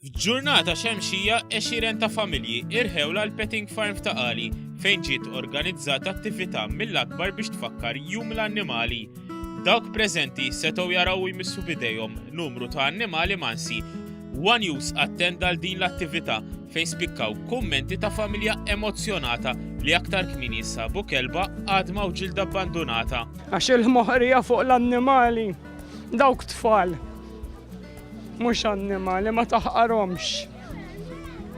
F'ġurnata xemxija eċiren ta' familji irħew l petting farm ta' Qali fejn ġiet organizzata attività mill-akbar biex tfakkar jum l-annimali. Dawk preżenti setgħu jaraw jmissu bidejhom numru ta' annimali mansi One News attenda għal din l-attività fejn spikkaw kummenti ta' familja emozzjonata li aktar kmieni jinsabu kelba, għadma u ġilda abbandunata. Għax il-moħrija fuq l-annimali, dawk tfal, mhux annimali ma taħqarhomx.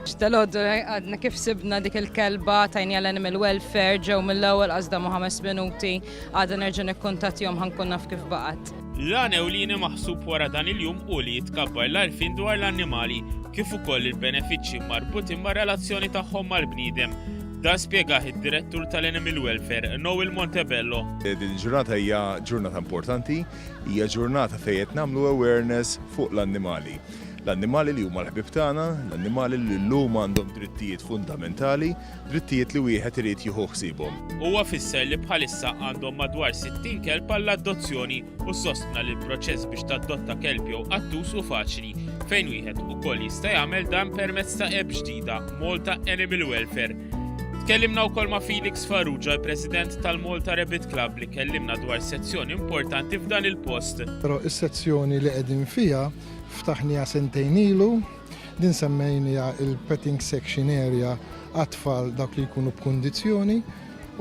X'dalodu għadna kif sibna dik il-kelba tajnija l-animal welfare ġew mill-ewwel qasdamu ħames minuti. Għada nerġa' nikkuntattjahom ħa nkun naf kif baqgħet. L-għan ewlieni maħsub wara dan il-jum hu li jitkabbar l-għarfien dwar l-annimali kif ukoll il-benefiċċji marbutin mar-relazzjoni tagħhom mal-bniedem. Dan spjegah id-Direttur tal-Animal Welfare, Noel Montebello. Din il-ġurnata hija ġurnata importanti, hija ġurnata fejn qed nagħmlu awareness fuq l-annimali. L-annimali li huma l-ħbib tagħna, l-annimali li llum għandhom drittijiet fundamentali, drittijiet li wieħed irid jieħu ħsiebhom. Huwa fisser li bħalissa għandhom madwar 60 kelb għall-adozzjoni u sostna li l-proċess biex tadotta kelb jew qattus hu faċli, fejn wieħed ukoll jista' jagħmel dan permezz ta' app ġdida, Malta Animal Welfare, Tkellimna wkoll ma' Felix Farrugia, president tal-Malta Rabbit Club, li kellimna dwar sezzjoni importanti f'dan il-post. Però is-sezzjoni li qegħdin fiha ftaħniha sentejn ilu Din semmejnija il-petting section area għat-tfal dawk li jkunu b'kundizzjoni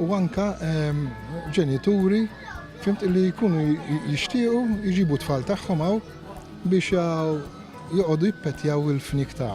u anka ehm, ġenituri fimt li jkunu jixtiequ jġibu tfal tagħhom hawn biex joqogħdu jippetjaw il-fnik ta'